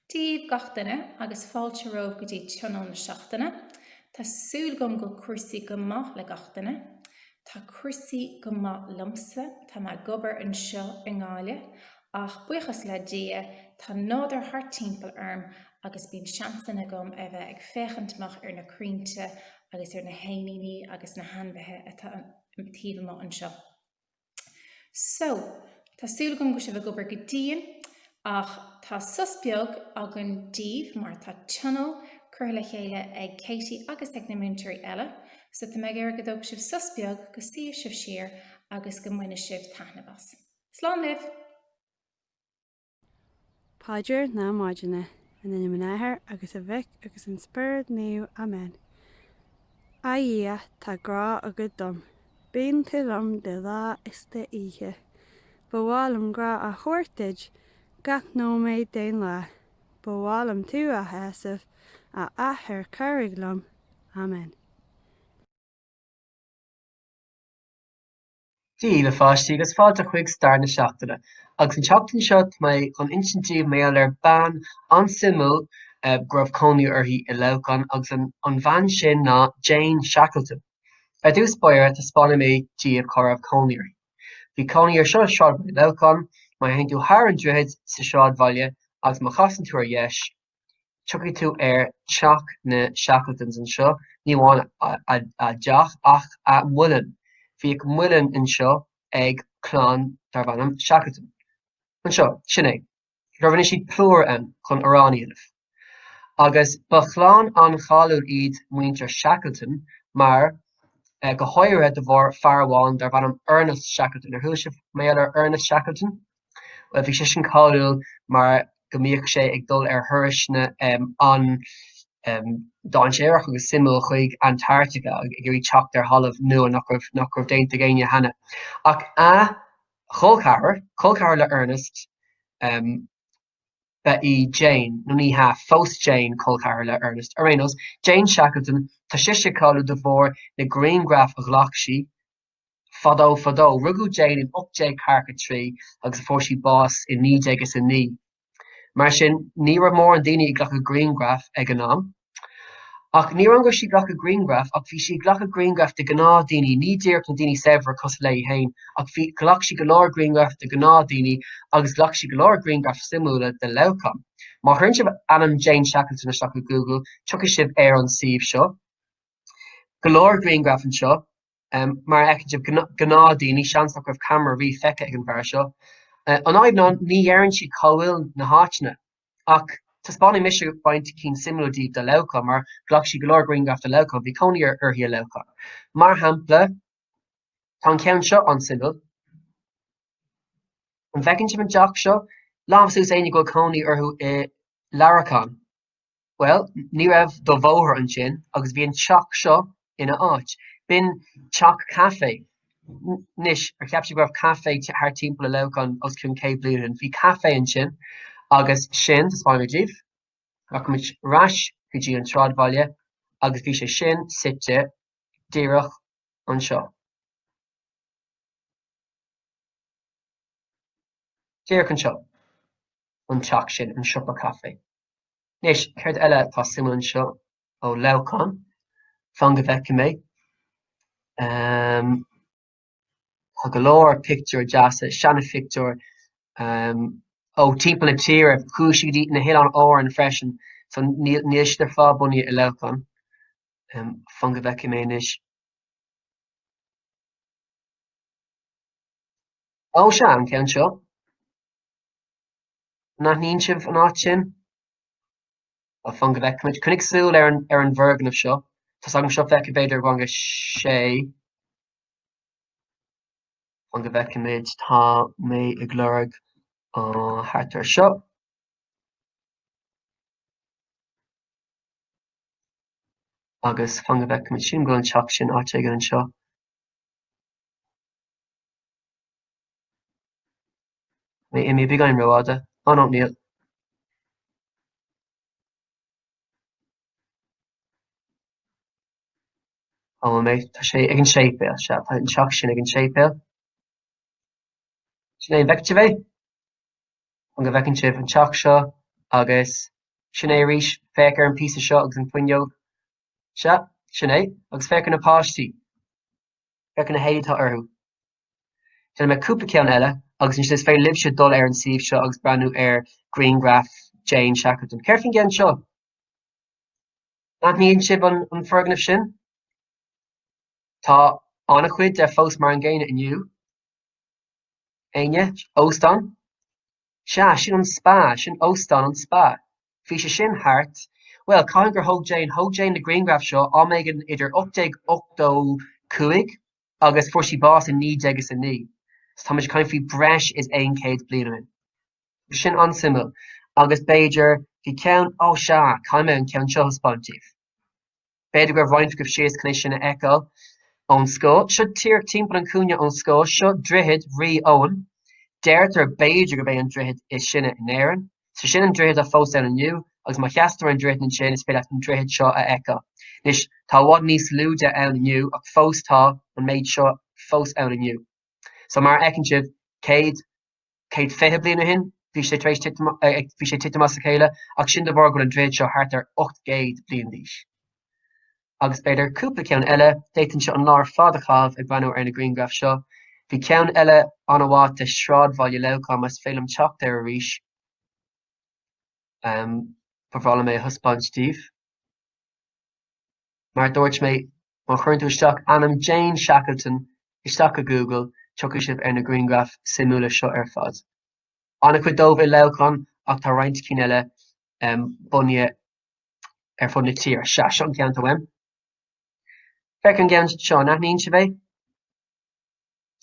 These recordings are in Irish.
Dia daoibh gach duine agus fáilte romhaibh go dtí tionól na seachtaine. Tá súil agam go bhfuil cúrsaí go maith le gach duine. Tá cúrsaí go maith liomsa, tá mé ag obair anseo i nGaillimh ach buíochas le Dia tá nádúr thart timpeall orm agus bíonn seansanna agam a bheith ag féachaint amach ar na crainnte agus ar na héiníní agus na hainmhithe atá taobh amuigh anseo. So, tá súil agam go bhfuil sibh ag obair go dian ach tá sos beag againn daoibh mar tá tionól curtha le chéile ag Katie agus ag na múinteoirí eile, so tá mé ag iarraidh go dtógfaidh sibh sos beag go suífidh sibh siar agus go mbainfidh sibh taitneamh as. Slán libh! Paidir na Maidine. In ainm an Athar agus an Mhic agus an Spiorad Naomh. Amen. A Dhia, tá grá agat dom. Bíonn tú liom de lá is de oíche. Ba mhaith liom grá a thabhairt duit gach nóiméad den lá. Ba mhaith liom tú a shásamh, a Athair cabhraigh liom. Amen. Dia daoibh a pháistí agus fáilte chuig Stair na Seachtaine. Agus an tseachtain seo tá mé chun insint daoibh mar gheall ar bean an-suimiúil go raibh cónaí uirthi i Leamhcán agus an bhean sin ná Jane Shackleton. Ar dtús báire taispeánfaidh mé daoibh cá raibh cónaí uirthi. Bhí cónaí uirthi anseo i Sráidbhaile Leamhcán, má théann tú thar an droichead sa sráidbhaile agus má chasann tú ar dheis, Tiocfaidh tú ar Teach na Shackletons anseo, ní amháin a dteach ach a muileann. Bhíodh muileann anseo ag clann darbh ainm Shackleton. Anseo, sin é. Rinne siad plúr ann chun arán a dhéanamh. Agus ba chlann an-cháiliúil iad muintir Shackleton mar, go háirithe de bharr fear amháin darbh ainm Ernest Shackleton. Ar chuala sibh mar gheall ar Ernest Shackleton? Bhuel, bhí sé sin cáiliúil mar go mbíodh sé ag dul ar thurais an-dainséarach agus suimiúil chuig Antarctica ag iarraidh teacht ar thalamh nua nach raibh nach raibh déanta ag éinne cheana. Ach a cholceathar, colceathar le Ernest, ab í Jane, nó ní hea, phós Jane colceathar le Ernest, ar aon nós, Jane Shackleton, tá sise cáiliúil de bharr na grianghraif a ghlac sí, Fadó fadó, rugadh Jane in ocht déag ceathracha a trí agus fuair sí bás in naoi déag is a naoi. Mar sin, ní raibh mórán daoine ag glacadh grianghraf ag an am. Ach ní hamháin go raibh sí ag glacadh grianghraf ach bhí sí ag glacadh grianghraf de ghnáthdhaoine, ní díreach na daoine saibhre cosúil léi féin, ach bhí, ghlac sí go leor grianghraf de ghnáthdhaoine agus ghlac sí go leor grianghraif suimiúla de Leamhcán. Má chuireann sibh ainm Jane Shackleton isteach i Google, tiocfaidh sibh ar an suíomh seo. Go leor grianghraf anseo. mar a fheicfidh sibh gnáthdhaoine, seans nach raibh camera riamh feicthe ag an bhfear seo. An fhadhb ná ní deireann sí cá bhfuil na háiteanna. Ach taispeánfaidh mise roinnt cinn suimiúla daoibh de Leamhcán, mar ghlac sí go leor grianghraif de Leamhcán. Bhí cónaí uirthi i Leamhcán. Mar shampla, tá an ceann seo an-suimiúil. An bhfeiceann sibh an teach seo? Lámha suas éinne go bhfuil cónaí orthu i Leamhcán. Bhuel, ní raibh an bóthar ansin agus bhí an teach seo ina áit. B'in teach caife. Anois, ar cheap sibh go raibh caife thart timpeall i Leamhcán os cionn céad bliain ó shin? Bhí caife ansin. Agus sin, taispeánfaidh mé daoibh, rachaimid ar ais go dtí an sráidbhaile agus bhí sé sin suite díreach anseo. Díreach anseo. An teach sin, an siopa caife. Anois, céard eile atá suimiúil anseo? Ó, Leamhcán, fan go bhfeicfidh mé. Tá go leor pictiúir deasa, seana-phictiúir ó timpeall na tíre, chuaigh sí go hOileáin Árann freisin, so níl, níl siad ar fad bunaithe i Leamhcán. Fan go bhfeicfidh mé anois. Ó, sea, an ceann seo. An aithníonn sibh an áit sin? Bhuel, fan go bhfeicfidh muid, coinnigh súil ar an bhfoirgneamh seo, tá 's agam seo feicthe b'fhéidir i rang a 6, fan go bhfeicfimid, tá mé ag lorg thart ar seo. Agus fan go bhfeicfimid sin, go bhfuil an teach sin áit éigin anseo. Tá mé imithe beagáinín rófhada, á nó níl. Á bhfuil mé, tá sé ag an séipéal, sea, tá an teach sin ag an séipéal. Sin é an bhfeiceann sibh é? An bhfeiceann sibh an teach seo agus sin é arís, féach ar an bpíosa seo agus an fhuinneog, sea, sin é, agus féach ar na páistí, féach ar na héadaí atá orthu. Déanfaidh mé cúpla ceann eile agus ansin is féidir libhse dul ar an suíomh seo agus breathnú ar ghrianghraif Jane Shackleton. Céard faoin gceann seo? An aithníonn sibh an foirgneamh sin? Tá an-chuid de fós mar an gcéanna inniu. Éinne? Óstán? Sea, sin an spa, sin óstán an spa. Bhí sé sin thart. Bhuel, cathain gur thóg Jane, thóg Jane na grianghraif seo am éigin idir 1885 agus fuair sí bás i naoi déag is a naoi, so táimid ag caint faoi breis is aon chéad bliain ó shin. Sin an-suimiúil agus b'fhéidir bhí ceann, ó sea, caithfidh mé an ceann seo a thaispeáint daoibh. B'fhéidir go raibh roinnt agaibh síos chun é sin a fheiceáil ón scoil. Seo díreach timpeall an chúinne ón scoil, seo droichead Rí Eoin, deirtear b'fhéidir gurb é an droichead is sine in Éirinn. So sin an droichead atá fós ann inniu, agus má sheasann tú ar an droichead ansin is féidir leat an droichead seo a fheiceáil. Anois, tá i bhfad níos lú de ann inniu, ach fós tá an méid seo fós ann inniu. So, mar a fheiceann sibh, céad, céad fiche bliain ó shin, bhí sé, bhí sé ag titim amach as a chéile, ach sin de bharr go bhfuil an droichead seo thart ar ocht gcéad bliain d'aois. Agus b'fhéidir cúpla ceann eile, d'fhéadfainnse an lá ar fad a chaitheamh ag breathnú ar na grianghraif seo. Bhí ceann eile an-mhaith de shráidbhaile Leamhcáin más féidir liom teacht air arís, ba bhreá liom é a thaispeáint daoibh. Mar a dúirt mé, má chuireann tú isteach ainm Jane Shackleton isteach i Google, tiocfaidh sibh ar na grianghraif suimiúla seo ar fad. An-chuid díobh i Leamhcán ach tá roinnt cinn eile bunaithe ar fud na tíre. Sea, seo an ceann atá uaim. Féach an ceann seo, an aithníonn sibh é?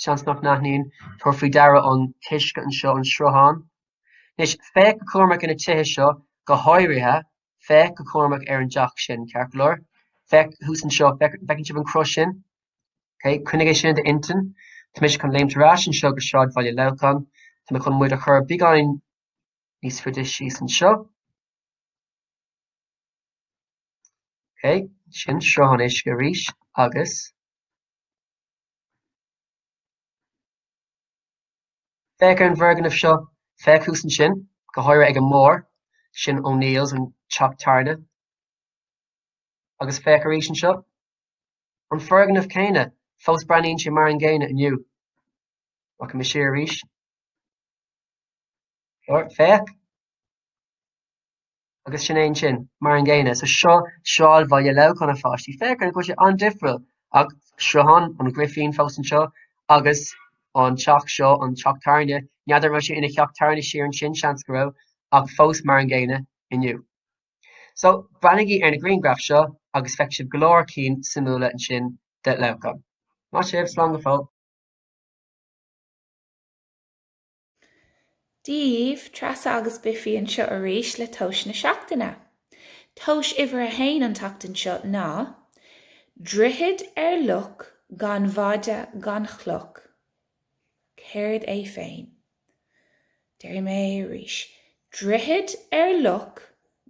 Seans nach n-aithníonn, tabhair faoi deara an t-uisce anseo, an sruthán. Anois, féach go cúramach ar na tithe seo, go háirithe, féach go cúramach ar an teach sin, ceart go leor. Féach thuas anseo, an bhfeiceann sibh an chros sin? Okay, Coinnigh é sin in d'intinn. Tá mise chun léimt ar ais anseo go sráidbhaile Leamhcáin, tá mé chun muid a chur beagáinín níos faide síos anseo. Ok, sin sruthán uisce arís agus féach ar an bhfoirgneamh seo, féach thuas ansin, go háirithe ag an mbarr, sin O'Neills, an teach tábhairne. Agus féach arís anseo, an foirgneamh céanna, fós breathnaíonn sé mar an gcéanna inniu. Rachaidh mé siar arís. Féach. agus sin é ansin, mar an gcéanna. So seo sráidbhaile Leamhcáin fadó. Feictear go bhfuil sé an-difriúil ach sruthán an Ghrifín fós anseo agus an teach seo, an teach tábhairne. N'fheadar an raibh sé ina theach tábhairne siar ansin, seans go raibh, ach fós mar an gcéanna inniu. So breathnaigí ar na grianghraif seo agus feicfidh sibh go leor cinn suimiúla ansin de Leamhcán. Maith sibh, slán go fóill. Daoibh, Treasa agus Biffy anseo arís le tomhas na seachtaine. Tomhas uimhir a haon an tseachtain seo ná, Droichead ar loch gan mhaide gan chloch. Céard é féin? Déarfaidh mé é arís, Droichead ar loch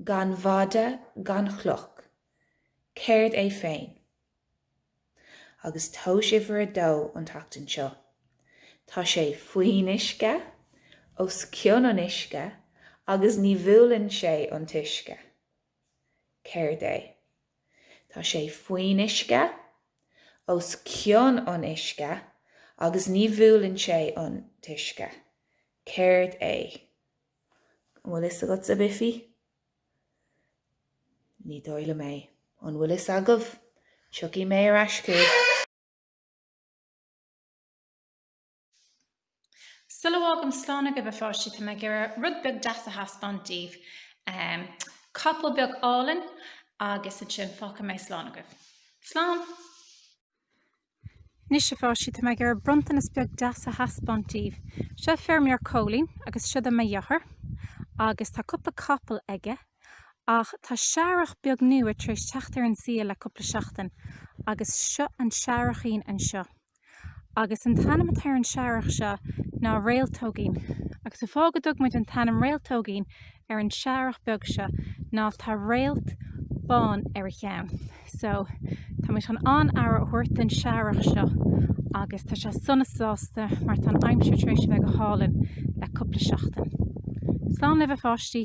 gan mhaide gan chloch. Céard é féin? Agus tomhas uimhir a dó an tseachtain seo. Tá sé faoin uisce, os cionn an uisce agus ní bhuaileann sé an t-uisce. Céard é? Tá sé faoin uisce, os cionn an uisce agus ní bhuaileann sé an t-uisce. Céard é? An bhfuil fhios agatsa, Biffy? Ní dóigh liom é. An bhfuil fhios agaibh? Tiocfaidh mé ar ais chugaibh. Sula bhfágaim slán agaibh, a pháistí, tá mé ag iarraidh rud beag deas a thaispeáint daoibh. Capall beag álainn agus ansin fágfaidh mé slán agaibh. Slán! Anois, a pháistí, tá mé ag iarraidh bronntanas beag deas a thaispeáint daoibh. Seo feirmeoir Cóilín agus siod e mo dheartháir agus tá cúpla capall aige ach tá searrach beag nua tar éis teacht ar an saol le cúpla seachtain agus seo an searrachín anseo agus an t-ainm atá ar an searrach seo ná Réaltógín agus an fáth go dtug muid an t-ainm Réaltógín ar an searrach beag seo ná tá réalt bán ar a cheann. So táimid chun an-aire a thabhairt don searrach seo agus tá sé sona sásta mar tá an aimsir tar éis a bheith go hálainn le cúpla seachtain. Slán libh a pháistí!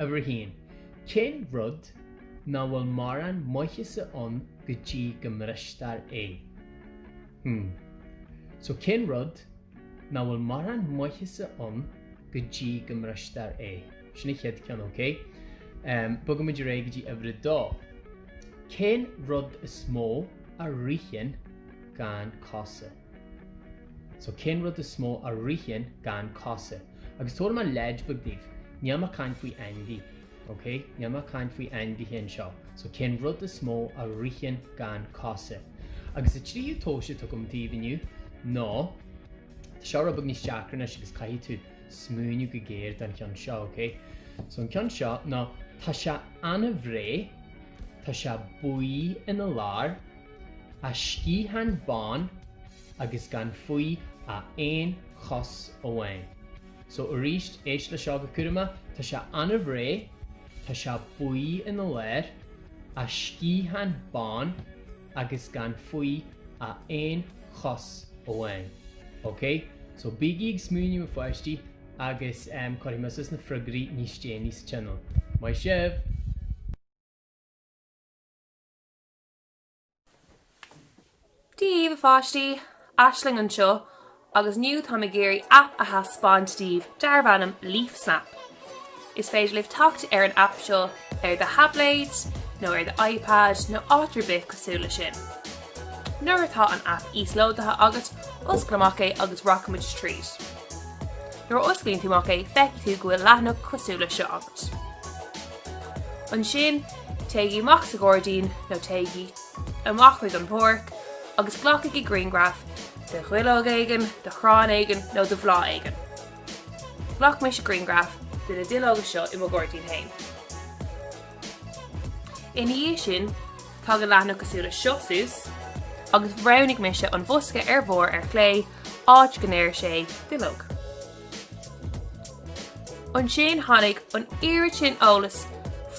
Uimhir a haon, cén rud ná bhfuil mórán maitheasa ann go dtí go mbristear é? Hmm. So, cén rud ná bhfuil mórán maitheasa ann go dtí go mbristear é? Sin an chéad ceann, ok? Em, bogfaimid ar aghaidh go dtí uimhir a dó. Cén rud is mó a ritheann gan cosa? So cén rud is mó a ritheann gan cosa? Agus tabharfaidh mé leid beag daoibh, níl mé ag caint faoi ainmhí, ok? Níl mé ag caint faoi ainmhithe anseo. So cén rud is mó a ritheann gan cosa? Agus an tríú tomhas atá agam daoibh inniu ná, tá seo rud beag níos deacra anois agus caithfidh tú smaoineamh go géar don cheann seo, ok? So an ceann seo ná, tá sé an-bhréa, tá sé buí ina lár, A sciathán bán agus gan faoi ach aon chos amháin. So arís, éist le seo go cúramach, tá sé ard réidh, tá sé buí ina lár, a sciathán bán agus gan faoi ach aon chos amháin. Ok? So bígí ag smaoineamh a pháistí agus em cuirfidh mise na freagraí níos déanaí sa tionól. Maith sibh! Daoibh, a pháistí! Aisling anseo, agus inniu táim ag iarraidh aip a thaispeáint daoibh darb ainm LeafSnap. Is féidir libh teacht ar an aip seo ar do thaibléid, nó ar do iPad, nó áit ar bith cosúil le sin. Nuair atá an aip íoslódaithe agat, oscail amach é agus rachaimid tríd. Nuair a osclaíonn tú amach é, feicfidh tú go bhfuil leathanach cosúil le seo agat. Ansin, Téigí amach sa ghairdín nó téigí amach chuig an bpáirc agus glacaigí grianghraf de dhuilleog éigin, de chrann éigin nó de bhláth éigin. Ghlac mise grianghraf de na duilleoga seo i mo ghairdín féin. Ina dhiaidh sin, tagann leathanach cosúil le seo suas, agus roghnaigh mise an bosca ar bharr ar chlé áit go ndeir sé duilleog. Ansin tháinig an oiread sin eolais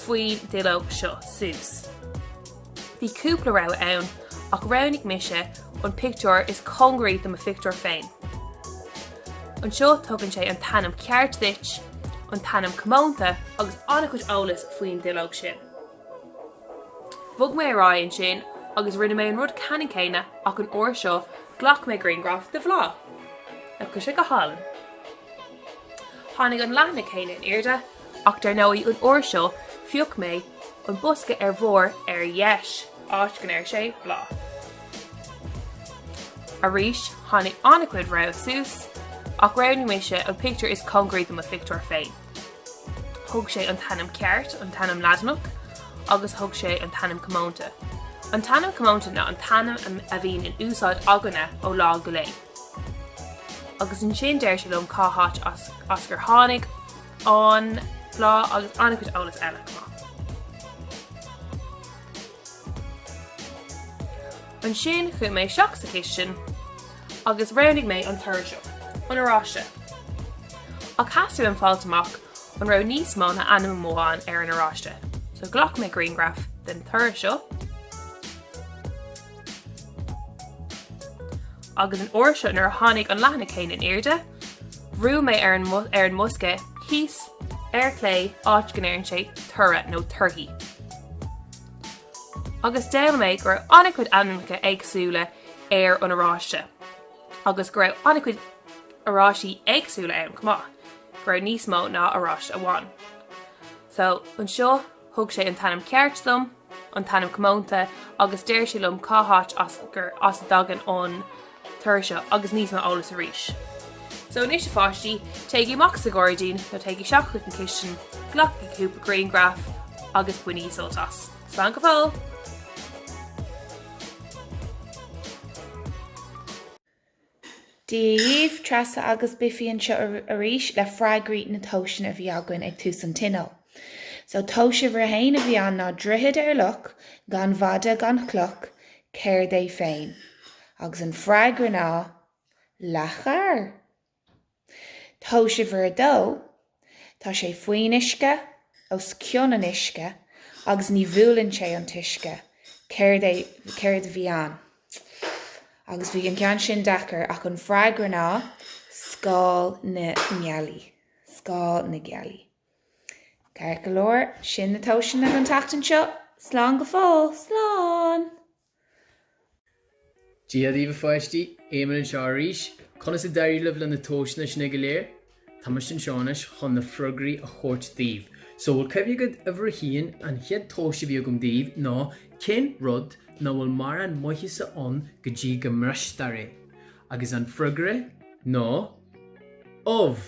faoin duilleog seo suas. Bhí cúpla rogha ann ach roghnaigh mise an pictiúr is cóngaraí do mo phictiúr féin. Anseo tugann sé an t-ainm ceart duit, an t-ainm comónta agus an-chuid eolais faoin duilleog sin. Bhog mé ar aghaidh ansin agus rinne mé an rud ceannann céanna ach an uair seo ghlac mé grianghraf de bhláth. Nach bhfuil sé go hálainn? Tháinig an leathanach céanna in airde ach dar ndóigh an uair seo phioc mé an bosca ar bharr ar dheis, áit go ndeir sé bláth. Arís tháinig an-chuid rogha suas ach roghnaigh mise an pictiúr is cóngaraí do mo phictiúr féin. Thug sé an t-ainm ceart, an t-ainm Laidineach, agus thug sé an t-ainm comónta. An t-ainm comónta ná an t-ainm a bhíonn in úsáid againne ó lá go lae. Agus ansin deir sé liom cá háit as gur tháinig an bláth agus an-chuid eolas eile chomh maith. Ansin chuaigh mé isteach sa chistin. agus roghnaigh mé an toradh seo, an Oráiste. Ach theastaigh uaim fáilt amach an raibh níos mó ná ainm amháin ar an Oráiste, so ghlac mé grianghraf den toradh seo agus an uair seo nuair a tháinig an leathanach féin in airde, bhrúigh mé ar an ar an mbosca thíos ar clé áit go ndeireann sé toradh nó torthaí. Agus d'fhoghlaim mé go raibh an-chuid ainmneacha éagsúla ar an oráiste agus go raibh an-chuid oráistí éagsúla ann chomh maith, go raibh níos mó ná oráiste amháin. So, anseo thug sé an t-ainm ceart dom, an t-ainm comónta, agus deir sé liom cá háit as gur as a dtagann an toradh seo agus níos mó eolas arís. So, anois a pháistí, téigí amach sa ghairdín nó téigí isteach chuig an chistin, glacaigí cúpla grianghraif agus bainigí sult as. Slán go fóill! Dia dhaoibh, Treasa agus Biffy anseo arís le freagraí na tomhaiseanna a bhí againn ag tús an tionóil. So tomhas uimhir a haon a bhí ann ná droichead ar loch, gan mhaide gan chloch, céard é féin? Agus an freagra ná, leac oighir! Tomhas uimhir a dó, Tá sé faoin uisce, os cionn an uisce, agus ní bhuaileann sé an t-uisce. Céard é, céard a bhí ann? Agus bhí an ceann sin deacair ach an freagra ná, scáil na ngealaí, scáil na gealaí. Ceart go leor, sin na tomhaiseanna don tseachtain seo. Slán go fóill, slán! Dia dhaoibh a pháistí, Éamonn anseo arís. Conas a d'éirigh libh le na tomhaiseanna sin go léir? Táimse anseo anois chun na freagraí a thabhairt daoibh. So, bhfuil cuimhne agaibh uimhir a haon, an chéad tomhas a bhí agam daoibh ná cén rud ná bhfuil mórán maitheasa ann go dtí go mbristear é? Agus an freagra ná ubh!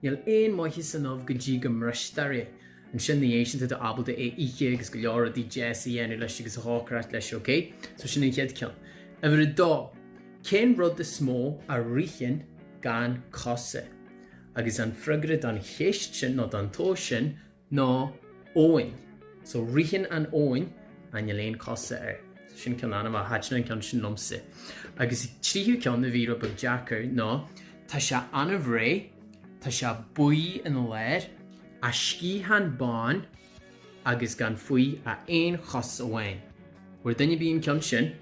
Níl aon mhaitheas san ubh go dtí go mbristear é. Ansin ina dhiaidh sin tá tú ábalta é a ithe agus go leor rudaí deas a dhéanamh leis agus a chócaireacht leis ok? So sin an chéad ceann. Uimhir a dó, cén rud is mó a ritheann gan cosa? Agus an freagra don cheist sin nó don tomhas sin ná abhainn. So ritheann an abhainn ach níl aon cosa air. So sin ceann an-mhaith, thaitin an ceann sin liomsa. Agus an tríú ceann a bhí rud beag deacair ná tá sé an-bhreá, tá sé buí ina lár, A sciathán bán agus gan faoi a aon chos amháin. Bhur dtuairimí an ceann sin.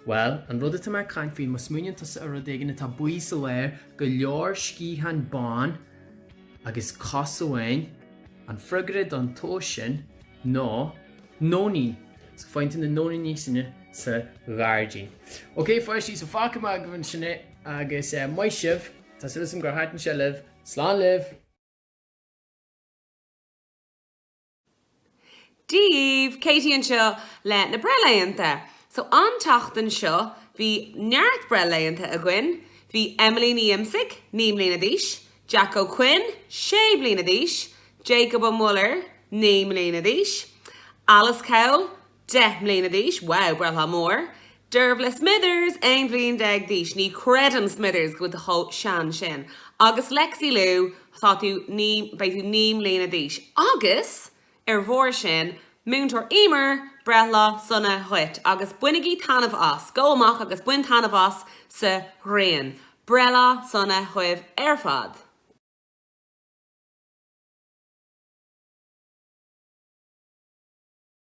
Bhuel, an rud atá mé ag caint faoi, má smaoiníonn tusa ar rud éigin atá buí sa lár, go leor sciathán bán agus cos amháin, an freagra don tomhas sin ná nóinín, so féachaint ar na nóiníní sin sa ghairdín. Ok pháistí, so fágfaidh mé agaibh ansin é agus maith sibh, tá súil agam gur thaitin sé libh, slán libh! Daoibh, Katie anseo le na breithlaethanta. So an tseachtain seo bhí neart breithlaethanta againn. Bhí Emily Ní Iomsaigh, 9 mbliana d'aois, Jack Ó Coinn, 6 bliana d'aois, Jacob Ó Muilleoir, 9 mbliana d'aois, Alice Cowell, Deich mbliana d'aois, wow, breithlá mór! Dearbhla Smithers, aon bhliain déag d'aois, ní chreidim, Smithers, go bhfuil tú chomh sean sin. Agus Lexi Lu, tá tú naoi, beidh tú naoi mbliana d'aois. Agus, ar bharr sin, Múinteoir Emer, breithlá sona dhuit. Agus bainigí taitneamh as. Go amach agus bain taitneamh as sa ghrian. Breithlá sona dhaoibh ar fad.